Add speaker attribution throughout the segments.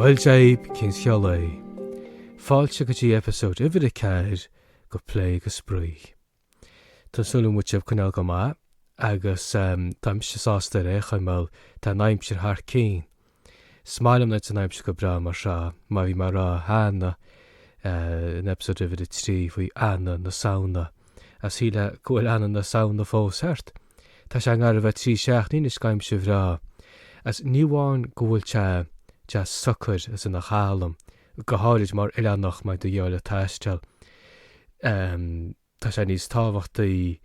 Speaker 1: Bhuel Dia dhaoibh, cén scéal é? Fáilte go dtí episode uimhir a ceathair go plé go spraoi. Tá súil agam go bhfuil sibh coinneáil go maith agus táimse sásta ar aon chaoi mar tá an aimsir thar cinn 'S maith liom leis an aimsir go breá mar seo, mar bhí mé a' rá cheana in episode uimhir a trí faoi Eanna na Samhna, 's sílim go bhfuil Eanna na Samhna fós thart. Tá sé i ngar a bheith trí seachtaín anois go aimsir bhreá, 's ní amháin go bhfuil sé deas socair 's ina chalm, go háirid mar oileánach má tá tú ag goil ag taisteal. tá sé níos tábhachtaí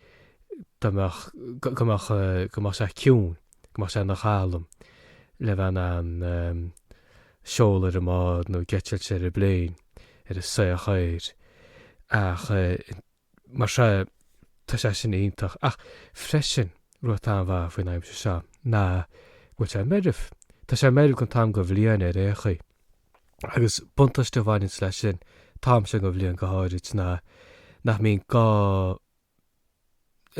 Speaker 1: dá mbeadh, go mbeadh, go mbeadh sé ciúin, go mbeadh sé ina chalm le bheith in ann seoladh ar an mbád nó ag eitilt ar an bpléin, ar an soitheach aeir. Ach mar seo, tá sé sin iontach. Ach freisin, rud atá an-mhaith faoin aimsir seo ná go bhfuil sé meirbh. Tá sé meirbh don t-am go bhliain ar aon chaoi. Agus buntáiste a bhaineann leis sin, an t-am seo go bhliain go háirid, ná nach mbíonn gá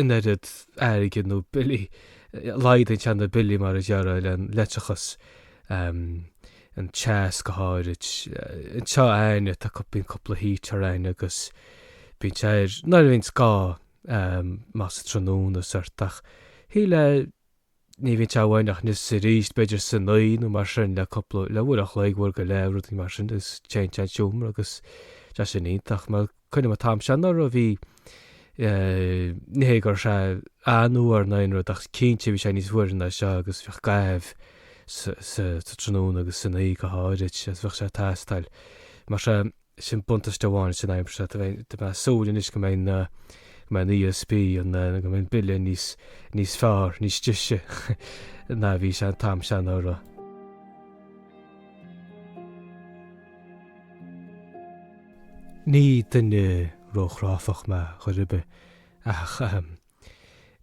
Speaker 1: an oiread airgid nó billí, laghdaíonn sé na billí mar a déarfá leictreachas, an teas go háirid, anseo againne tá, bíonn cúpla heater againn agus bíonn sé air, nuair a bhíonns gá, más tráthnóna is ort, ach shíl le, ní bhíonn sé uainn ach anois is aríst, b'fhéidir san oíche nó mar sin le cúpla, le uair an chloig, uair go leith, rudaí mar sin agus téann sé an seomra agus tá sin iontach mar cuimhnim an t-am seo anuraidh, bhí eh, ní hé go raibh sé an-fhuar ná aon rud ach cinnte bhí sé níos fuaire ná seo agus bheadh gá sa, sa, sa tráthnóna agus san oíche go háirid agus bheadh sé ag teastáil. Mar sin, sin buntáiste amháin san aimsir. Tá mé ag súil anois go mbeidh na, go mbeidh an ESB, an, go mbeidh an bille níos, níos fearr, níos deise ná a bhí sé an t-am seo anuraidh. Ní duine róchráifeach mé chor ar bith, ach, ahem,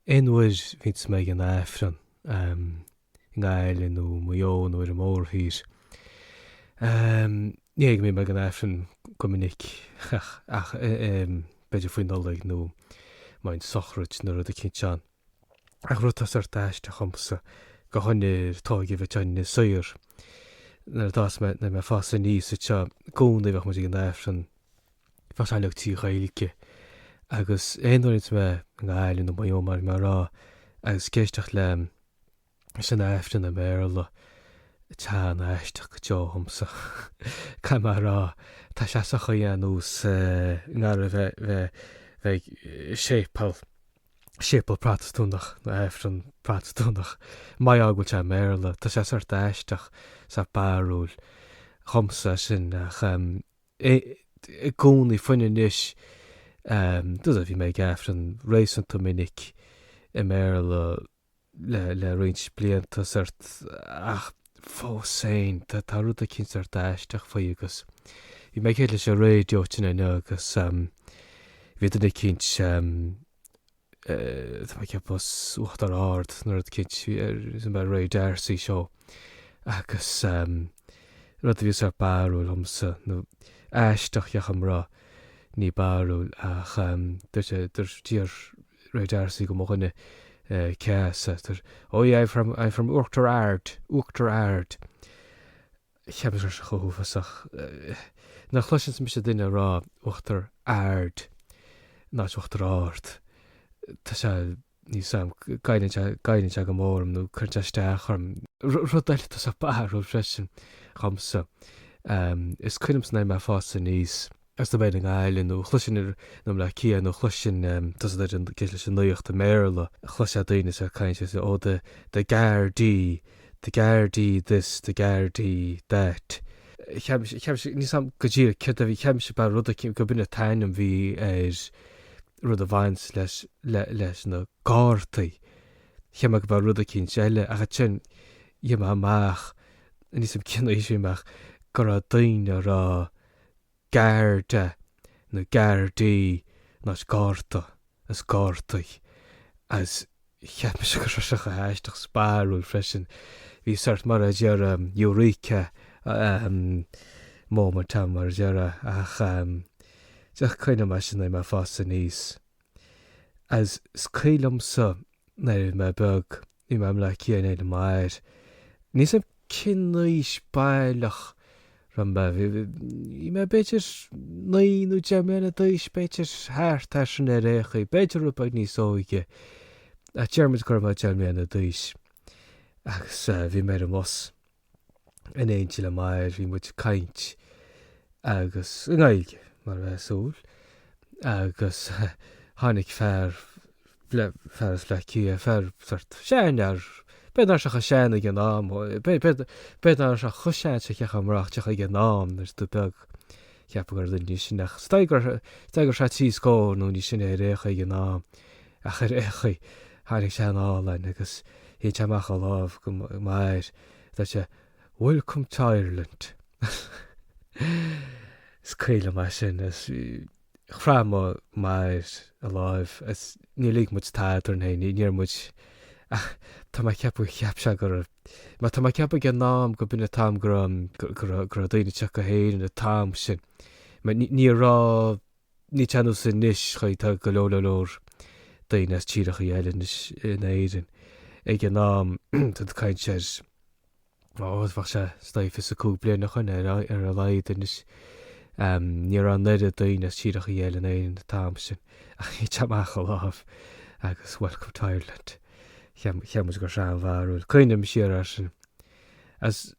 Speaker 1: aon uair a bhíonns mé ag an Aifreann, ahem. i nGaillimh nó i Maigh Eo nó ar an mórthír. Ní bhíonn mé ag an Aifreann go minic ach b'fhéidir faoi Nollaig nó má bhíonn sochraid nó rud eicínt ann. Ach rud atá sórt aisteach dhomsa, go háirid mar tógadh mé in Inis Oírr, nuair atá mé, nuair a bhí mé ag fás aníos anseo, i gcónaí bheadh muid ag an Aifreann, bheadh sé uilig trí Ghaeilge, agus aon uair a bhíonns mé i nGaillimh nó Maigh Eo mar rá, agus ag éisteacht le Sin aifreann i mBéarla. Tá sé an-aisteach go deo dhomsa. Caithfidh mé a rá, tá sé sa chaoi ar nós a bheith ag séipéal, séipéal Protastúnach nó aifreann Protastúnach. Mar gheall go bhfuil sé i mBéarla. Tá sé sórt aisteach, sórt barrúil dhomsa é sin ach i gcónaí, fiú amháin anois, bhí mé ag aifreann réasúnta minic i mBéarla. le roinnt blianta ach fós féin tá rud eicínt aisteach faoi agus bhí mé ag éisteacht leis an raidió inniu agus bhí duine eicínt tá mé ag ceapadh as Uachtar Ard nó rud eicínt Ray D'Arcy seó agus rud a bhí sórt barrúil liomsa nó aisteach, ní barrúil, ach dúirt sé, d'iarr Ray D'Arcy dho mo dhuine cé as thú, Oh yeah, I'm from, I'm from Oughterard, Oughterard. Cheap mise go raibh sé chomh uafásach nuair a chloiseas mise duine ag rá Oughterard in áit Uachtar Ard. Tá sé níl a fhios agam, goilleann sé, goilleann sé go mór orm nó cuireann sé isteach orm. Rud eile atá barrúil freisin dhomsa, is cuimhin liomsa nuair a bhí mé ag fás aníos, Is dóibh Fhine Gael nó chloiseann ar nó mná Cia nuair a chloiseann tusa ag éisteacht leis an nuacht i mBéarla. Cloiseann tú daoine is iad ag caint is ó the the Gardaí, the Gardaí this, the Gardaí that. Cheap, cheap mise, níl a fhios agam go díreach céard a bhí, cheap mise go mba rud eicínt gurb in an t-ainm a bhí ar rud a bhaint leis le leis na Gardaí. Cheap mé go mba rud eicínt eile ach ansin rinne mé amach, níl a fhios agam cinnte, rinne mise amach go raibh daoine ag rá Garda nó Gardaí, in áit Garda, is Gardaí, is cheap mise go raibh sé chomh haisteach is barrúil freisin. Bhí sórt mar a déarfá Eureka moment ann mar a déarfá ach is cuimhin liom é sin is mé ag fás aníos. Agus is cuimhin liomsa, nuair a bhí mé beag, bhí mé i mBaile Átha Cliath in éindí le m'athair. Níl a fhios agam cén aois baileach a raibh mé, bhí mé b'fhéidir naoi nó deich mbliana d'aois, b'fhéidir, thart ar sin ar aon chaoi, b'fhéidir rud beag níos óige, ach déarfaidh muid go raibh mé deich mbliana d'aois, agus bhí mé ar an mbus. in éindí le m'athair, bhí muid ag caint agus, i nGaeilge, mar a bheadh súil, agus tháinig fear, fear as Baile Átha Cliath, fear sórt seanfhear, b'fhéidir nach raibh sé chomh sean ag an am, b'fhéidir nach raibh sé chomh sean-seicteach amach ag an am, nuair atá tú beag, Cheapfá gur duine níos sine, déarfainn go raibh sé trí scór nó níos sine ar aon chaoi, á, ach ar aon chaoi, tháinig sé anall agus shín sé amach a lámh go mo mháthair is dúirt sé, Welcome to Ireland. Is cuimhin liom é sin is chroith mo mháthair a láimh is níor lig muid tada orainn fhéin, níor dhúirt muid, Ach tá mé ag ceapadh, cheap sé go raibh, mar tá mé ag ceapadh ag an am, gurb in an t-am go raibh, go raibh, go raibh daoine ag teacht go hÉirinn an t-am sin. Ní raibh, ní hé nós anois, an chaoi, tá go leor, leor, leor daoine as tíreachaí eile anois in Éirinn. Ag an am, tá tú ag caint ar. Bheadh sé scaitheamh, os cionn 5 bliana ó shin ar a laghad anois. Ní raibh an oiread daoine as tíreachaí eile in Éirinn an t-am sin, ach shín sé amach a lámh agus welcome to Ireland. Cheap muid go raibh sé an-bharrúil. Cuimhním siar air sin. Is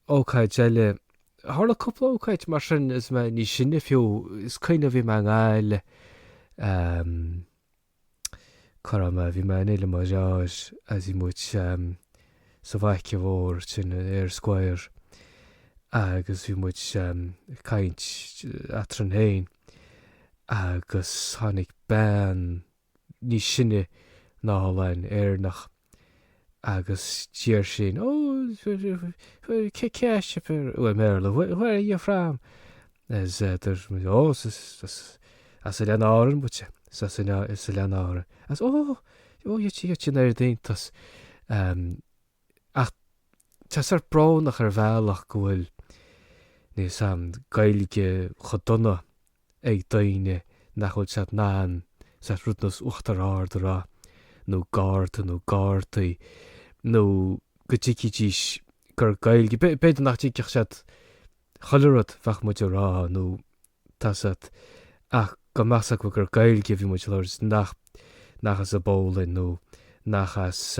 Speaker 1: ócáid eile, tharla cúpla ócáid mar sin is mé níos sine fiú, is cuimhin liom bhí mé i nGaillimh, Cara liom, bhí mé in éindí le Máiréad is bhí muid sa bhanc mhór sin, in Eyre Square, agus bhí muid ag caint eadrainn fhéin agus tháinig bean níos sine anall, Éireannach, Agus d'iarr sí, ó, cé as a bhfuil sibh, i mBéarla, where are you from? Is dúirt muid, ó, as Oileáin Árann muid, as Oileáin Árann. Is, ó, ó, rinne sí an oiread iontais. Ach tá sé sórt brónach ar bhealach go bhfuil, níl 's agam, Gaeilge chomh dona ag daoine nach bhfuil siad in ann sórt rud nós Uachtar Ard a rá, nó Garda nó Gardaí, nó go dtuigfidís gur Gaeilge, b'fhéidir nach dtuigfeadh siad chuile rud bheadh muid a rá, nó tada sórt, ach go mbeadh a fhios acu gur Gaeilge a bhí muid a labhairt, nach as an bPólainn nó nach as.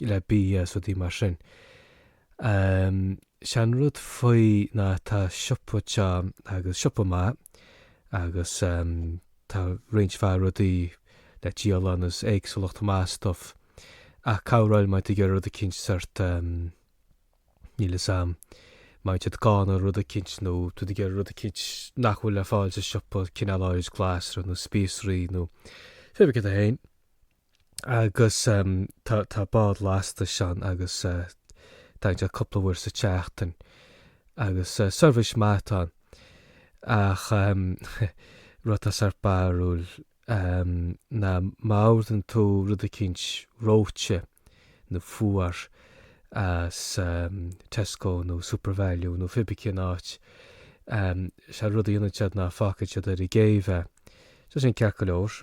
Speaker 1: le BS rudaí mar sin. 'Sé an rud faoi ná tá siopa seo agus is siopa maith é agus tá roinnt mhaith rudaí le díol ann is éagsúlacht maith stuff ach corruair má tá tú ag iarraidh rud eicínt sort níl fhios a'm má tá tú gann ar rud eicínt nó tá tú ag iarraidh rud eicínt nach bhfuil le fáil sa siopa cineál áirid glasra nó spíosraí nó pé bith céard é féin. agus tá bád lastais ann agus tagann sé cúpla uair sa tseachtain agus seirbhís maith atá ann ach an rud atá sórt barrúil ná má ordaíonn tú rud eicínt reoite nó fuar as Tesco nó Supervalu nó cibé cén áit, is é rud a dhéanann siad ná fágfaidh siad ar an gcéibh é. Tá sin ceart go leor.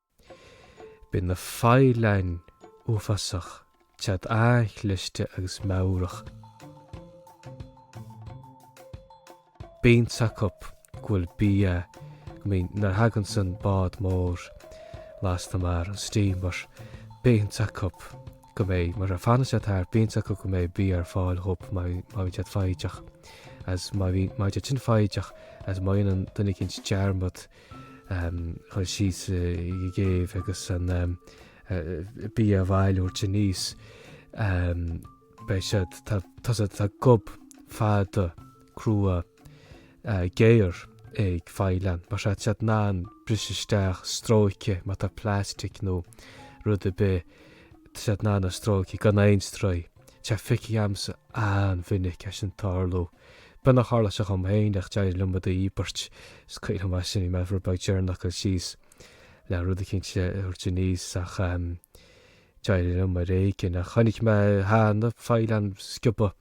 Speaker 1: Bíonn na faoileáin uafásach, tá siad an-chliste agus meabhrach. Bíonn a fhios acu go bhfuil bia, go mbíonn, nuair a thaganns an bád mór lasta mar an steamer, bíonn a fhios acu go mbeidh, má fhanann siad thart, bíonn a fhios acu go mbeidh bia ar fáil dhóib má bhíonn siad foighdeach, agus, má bhíonn, má bhíonn siad sin foighdeach, agus má dhéanann duine éicint dearmad, a dhul síos ag an gcéibh agus an bia a bhailiú, a thabhairt aníos. Beidh siad, tá, tá siad, tá gob fada crua géar ag faoileán. Mar sin, tá siad in ann briseadh isteach, stróiceadh, má tá plastic nó rud ar bith, tá siad in ann a stróiceadh gan aon stró. Tá feicthe agamsa an-mhinic é sin ag tarlú. Beagnach tharla sé dhom féin, ach d'éirigh liom iad a dhíbirt. Is cuimhin liom ansin bhí mé ábhairín beag deireanach ag dul síos le rud éicint a thabhairt aníos, ach d'éirigh liom ar éigin. Ach chonaic mé cheana faoileáin ag sciobadh.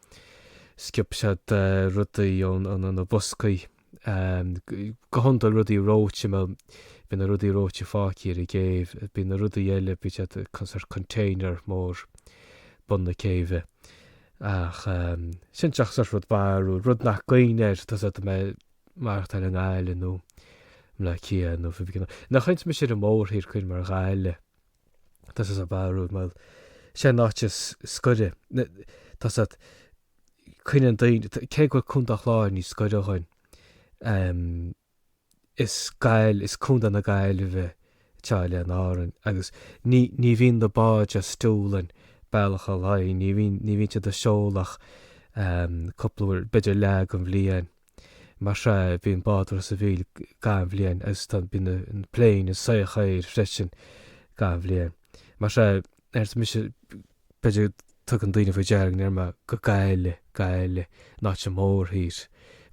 Speaker 1: Sciob siad rudaí ó na boscaí. Go hiondúil rudaí reoite, bhuel, bíonn na rudaí reoite fágtha ar an gcéibh. Bíonn na rudaí eile, bíonn siad sa container mór bun na céibhe. Ach cinnteacht sa rud barrúil, rud nach gcuimhne air tusa do mbeith maireachtáil i nGaillimh nó mná cíocha nó fir gnaoi. Nach chaoinfidh mise ar an mórthír cuir mar ghaile tusa sa barrúil mar sé an áit is scoire tusa coinneann daoine cé go bhfuil Contae an Chláir níos scoire dhuinn. is Gaill, is Contae na Gaillimhe atá Oileáin Árann agus ní, ní bhíonn na báid as Dúlainn bealach a lae, ní bhíonn, ní bhíonn siad ag seoladh ach cúpla uair, b'fhéidir leath den bhliain. Mar sin, bíonn bád ó Ros an Mhíl gach bhliain agus tá, bíonn na pléin soir siar freisin gach bhliain. Mar sea. Mise, B'fhéidir go dtugann daoine faoi deara go ndeir mé go Gaillimh, Gaillimh, in áit an mórthír.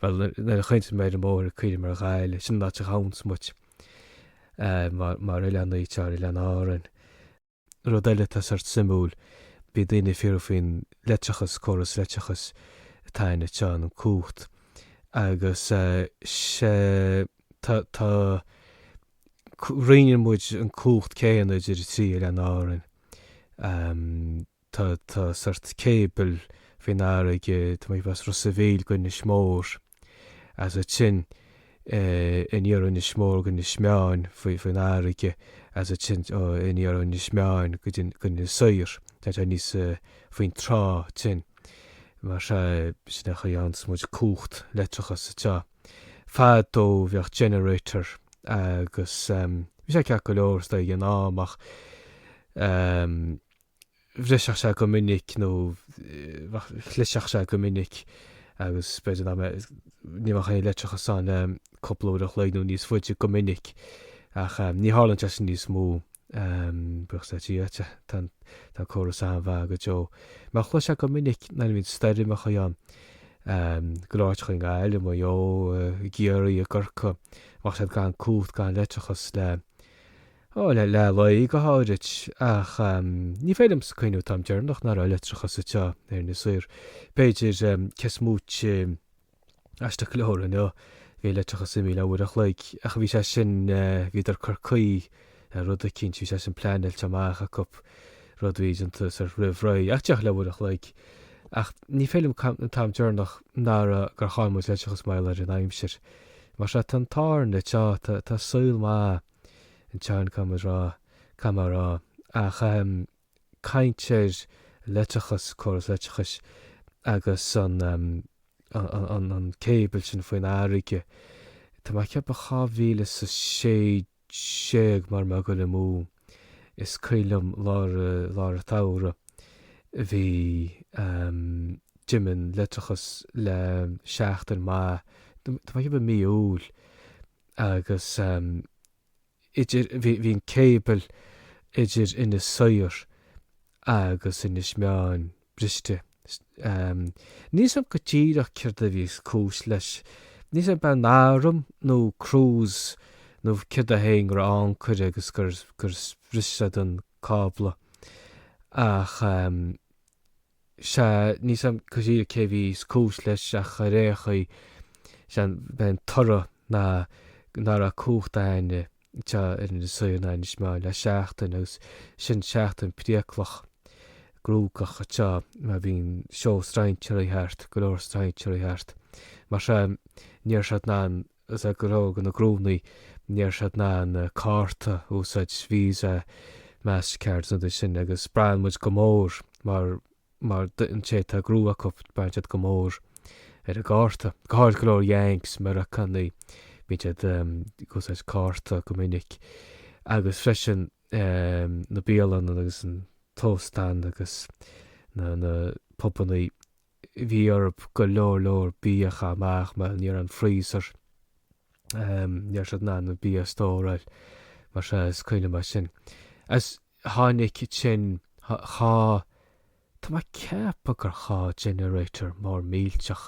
Speaker 1: Bhuel, nuair a chaintíonn mé ar an mórthír cuimhníonn mé ar Ghaillimh, sin an áit a ghabhanns muid, mar oileán Inis Oírr, oileán Árann. Rud eile atá sórt suimiúil, bhí daoine ag fiafraí faoin leictreachas, córas leictreachais atá ann, tá an chumhacht, agus tá, tá, roinneann muid an cumhacht céanna idir an trí oileán Árainn. Tá sórt cable faoin fharraige, tá muid as Ros a' Mhíl go Inis Mór, agus ansin aniar ó Inis Mór go Inis Meáin faoin fharraige, agus ansin aniar ó Inis Meáin go dtí go Inis Oírr, teacht aníos faoin trá ansin. Mar sin, sin an chaoi a fhaigheanns muid cumhacht leictreachas anseo. Fadó bheadh generator agus bhí sé ceart go leor ag an am ach bhriseadh sé go minic nó chliseadh sé go minic agus b'fhéidir nach mbeadh, ní bheadh aon leictreachas ann le cúpla uair an chloig nó níos faide go minic ach ní tharlaíonn sé sin níos mó. Buíochas le Dia, tá an córas an-mhaith go deo. Mar a chloisfeá go minic nuair a bhíonn stoirmeacha ann, go leor áiteacha i nGaillimh, i Maigh Eo, i gCiarraí, i gCorcaigh, bheadh siad gan cumhacht, gan leictreachas le, ó, le leath lae go háirid. Ach ní féidir liomsa cuimhneamh an t-am deireanach ná raibh leictreachas anseo ar Inis Oírr. B'fhéidir, cé is móite. aisteach go leor inniu. Bhí an leictreachas imithe le uair an chloig, ach bhí sé sin, bhíodar ag cur caoi ar rud eicínt, bhí sé sin pleanáilte amach acu rud a bhí déanta soir roimh ré, ach díreach le uair an chloig. Ach ní féidir liom cuimhneamh an t-am deireanach ná raibh gur chaill muid leictreachas mar gheall ar an aimsir. Mar sin, tá an t-ádh orainn anseo, tá saol maith anseo, caithfidh mé a rá, caithfidh mé a rá, ach, caint ar leictreachas, córas leictreachais agus an cable sin faoin fharraige. Tá mé ag ceapadh dhá mhíle is a sé déag mara bhfuil mé ag goil amú, is cuimhin liom lár lár an tsamhraidh bhí, d'imigh an leictreachas le seachtain maith, tá mé ag ceapadh mí Iúil agus. idir, bhí an cable idir Inis Oírr agus Inis Meáin briste. Níl a fhios a'm go díreach céard a bhí is cúis leis, níl a fhios a'm b'é an arm nó cruise nó céard é féin go raibh ancaire agus gur bhris siad an cábla ach. sea, níl a fhios a'm go díreach cé a bhí is cúis leis ach ar aon chaoi, sea, b'é an toradh ná ná raibh cumhacht againne anseo ar Inis Oírr ná Inis Meáin le seachtain agus sin seachtain priaclach, cruógach anseo mar bhí an seó strainséirí thart, go leor strainséirí thart. Mar sin, ní raibh siad in ann. Is é go leor de na gnónnaí, ní raibh siad in ann na cártaí a úsáid, Visa, Mastercard, na rudaí sin, agus braitheann muid go mór mar mar an té atá gnó acu, braitheann siad go mór ar an gcárta. Go háirithe go leor Yanks, Meiriceánaigh, bíonn siad ag úsáid cárta go minic. Agus freisin na bialanna agus an t-óstán agus na na pubanna bhí orthu go leor leor bia a chaitheamh amach mar ní raibh aon freezer ní raibh siad in ann bia a stóráil mar sin is cuimhin liom é sin is tháinig sin dhá tá mé ag ceapadh gur dhá generator mór millteach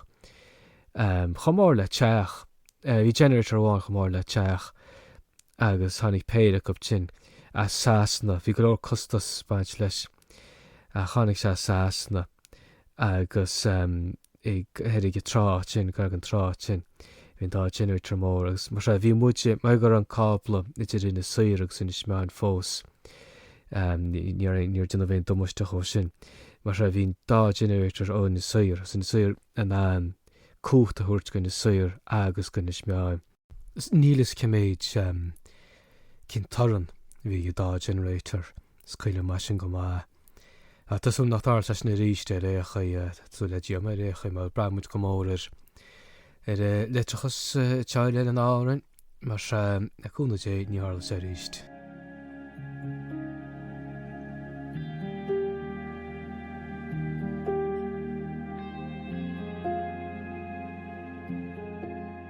Speaker 1: chomh mór le teach bhí generator amháin chomh mór le teach agus tháinig péire acu sin as Sasana bhí go leor costas ag baint leis sin. Tháinig sé as Sasana agus thoir ag an trá ansin, ag an trá ansin bhí an dá generator mór agus mar sin, bhí muid, mar go raibh an cábla idir Inis Oírr agus Inis Meáin fós, níor déanadh aon damáiste dhó sin, mar sin, bhí an dá generator ó Inis Oírr, as Inis Oírr in ann cumhacht a thabhairt go Inis Oírr agus go Inis Meáin. Níl a fhios cé mhéad, cén torann a bhí ag an dá generator, is cuimhin liom é sin go maith. Tá súil nach dtarlóidh sé sin arís ar aon chaoi, tá súil le Dia agam ar aon chaoi mar braitheann muid go mór ar ar leictreachas anseo ar Oileáin Árann, mar sin, le cúnamh Dé ní tharlóidh sé arís.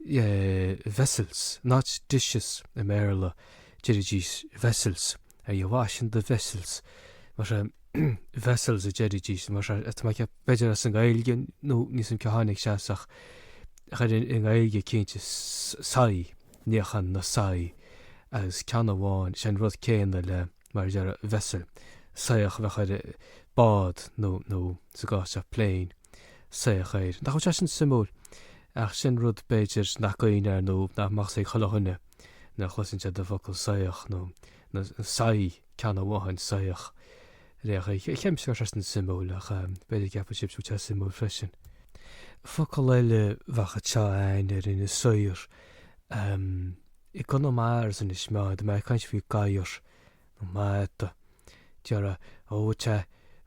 Speaker 1: vessels, not dishes i mBéarla, deiridís vessels, are you washing the vessels? Mar sin, vessels a deiridís, mar sin, tá mé ag ceapadh, b'fhéidir as an Ghaeilge nó níl a fhios agam cá tháinig sé as ach chuir i nGaeilge cinnte soithí, níochán na soithí agus ceann amháin, sé an rud céanna le. mar a deir vessel, soitheach a bheadh ar bád nó, nó sa gcás seo plane, soitheach aeir. Nach bhfuil sé sin suimiúil? Ach sin rud, b'fhéidir, nach gcuimhin air nó nach mbeadh a fhios ag chuile dhuine nuair a chloiseann siad an focal soitheach nó, nó soithí, ceann amháin, soitheach. Ach cheap mise go raibh sé sin suimiúil ach b'fhéidir go gceapfaidh sibhse go bhfuil sé suimiúil freisin. Focal eile a bheadh anseo againn ar Inis Oírr, Ahm, i gConamara ansin is má bhí mé ag caint faoi gadhar, nó mada. Déarfá, ó, bhfuil sé,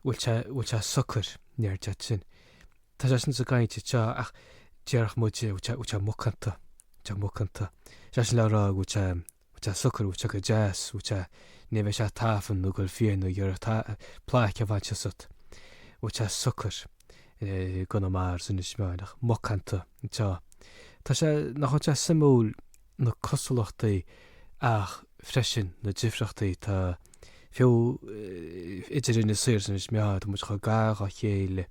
Speaker 1: bhfuil sé, bhfuil sé socair, ní aird at sin. Tá sé sin sa gcaint anseo ach déarfadh muide, bhfuil sé, bhfuil sé macánta, bhfuil sé macánta. Is é sin le rá, bhfuil sé, bhfuil sé socair, bhfuil sé go deas, bhfuil sé, ní bheidh sé ag tafann nó ag dul fiáin nó ag iarraidh plaic a bhaint asat. Bhfuil sé socair. gConamara is in Inis Meáin, ach macánta tá sé, tá sé, nach iontach suimiúil na cosúlachtaí ach freisin na difríochtaí atá, fiú, idir Inis Oírr agus Inis Meáin, tá muid chomh gar dá chéile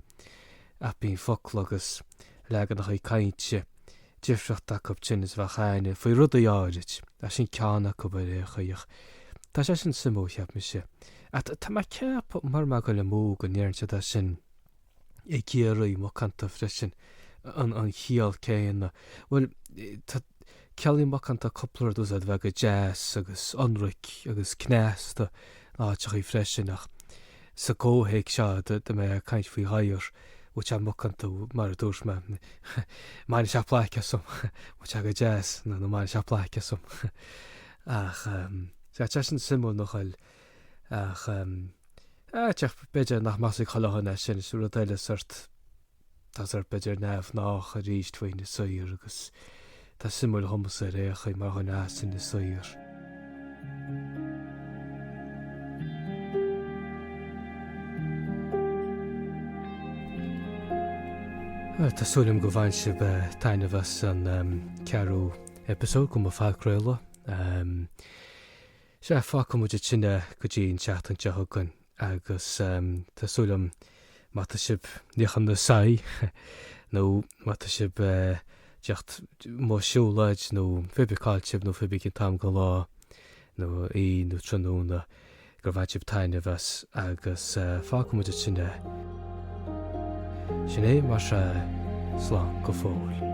Speaker 1: ach bíonn focla agus leaganachaí cainte, difriúil acub in Inis Meáin faoi rudaí áirid as sin ceann acu ar aon chaoi. Tá sé an-suimiúil, cheap mise. Ach tá mé ag ceapadh, mura bhfuil dul amú, go ndéarann siad é sin i gCiarraí macánta freisin, an chiall chéanna. Bhuel, ciallaíonn macánta cúpla rud, is é sin a bheith go deas agus ionraic agus cneasta in áiteachaí freisin, ach Sa gcomhthéacs seo dá mbeifeá ag caint faoi ghadhar, bhfuil sé macánta mar a dúirt mé, an mbainfidh sé plaic asam, bhfuil sé go deas nó nó an mbainfidh sé plaic asam? Ach tá sé an-suimiúil nach bhfuil? Ach, ach b'fhéidir nach measfadh chuile dhuine é sin, is rud eile sórt. Tá sórt b'fhéidir neamhghnách arís faoina saothar agus tá suim mhór agamsa ar Eochaidh mar dhuine as ina saothar. Tá súil agam go mbainfidh sibh taitneamh as an ceathrú eipeasóid de mo phodchraoladh. Sea, fágfaidh muid ansin é go dtí an tseachtain seo chugainn. Agus tá súil agam, má tá sibh, ag níochán na soithí, nó má tá sibh ag teacht ó shiúlóid, nó pé bith cá bhfuil sibh, nó pé bith cén t-am den lá, nó oíche, nó tráthnóna, gur bhain sibh taitneamh as, agus fágfaidh muid ansin é. Sin é, maise, slán go fóill.